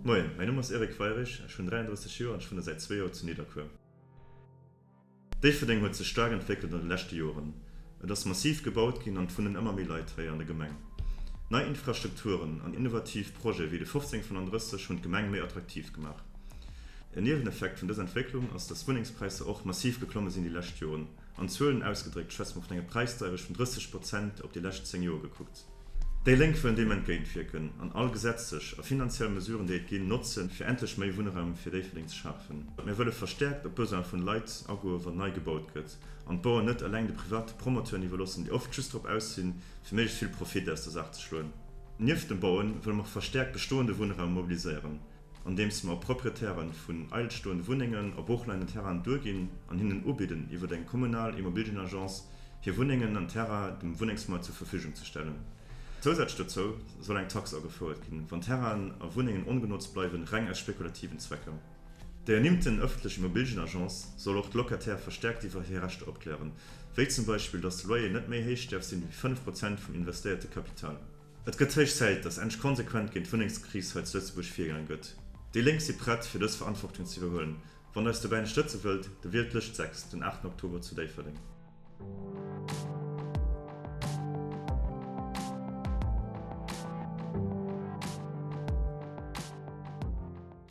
Moien, mäin Numm ass Eric Weirich, ech hunn 33 Joer an ech wunne säit zwee Joer zu Nidderkuer. Déifferdeng huet sech staark entwéckelt an de leschte Joren. Et ass massiv gebaut ginn an et wunnen ëmmer méi Leit hei an der Gemeng. Nei Infrastrukturen an innovativ Projete wéi de 1535 hunn d'Gemeng méi attraktiv gemaach. En Nieweneffekt vun dëser Entwécklung ass, dass Wunnengspräisser och massiv geklomme sinn déi lescht Joren. An Zuelen ausgedréckt schwätze mer vun enger Präisdeirech vun 30 Prozent op déi lescht zéng Joer gekuckt. Déi Lénk wëllen deem entgéintwierken an all gesetzlech a finanziell Mesuren, déi et ginn, notzen, fir endlech méi Wunnraum fir Déifferdeng ze schafen. Mir wëlle verstäerkt op d'Besoine vun Leit agoen, wann nei gebaut gëtt. an d'Baueren net eleng de private Promoteuren iwwerloossen, déi oft just drop aus sinn, fir méiglechst vill Profit aus der Saach ze schloen. Nieft dem Bauen wëlle mer och verstäerkt bestoende Wunnraum mobiliséieren, andeems mer Proprietäre vun eidel stoende Wunnengen a Broochleinen Terrainen duerginn an hinnen ubidden, iwwer eng kommunal Immobilienagence hir Wunnengen an Terrainen dem Wunnengsmaart zur Verfügung ze stellen. Zousätzlech dozou soll eng Tax agefouert ginn, wann Terrainen a Wunnengen ongenotzt bleiwen, reng aus spekulativen Zwecker. Déi ernimmten ëffentlech Immobilgenagence soll och d'Locataire verstäerkt iwwer hir Rechter opklären, wéi zum Beispill, datt de Loyer net méi héich däerf sinn, ewéi 5 Prozent vum investéierte Kapital. Et gëtt héich Zäit, datt endlech konsequent géint d'Wunnengskris hei zu Lëtzebuerg virgaange gëtt. Déi Lénk si prett, fir dës Verantwortung ze iwwerhuelen. Wann der eis dobäi ënnerstëtze wëllt, da wielt d'Lëscht 6 den 8 Oktober zu Déifferdeng.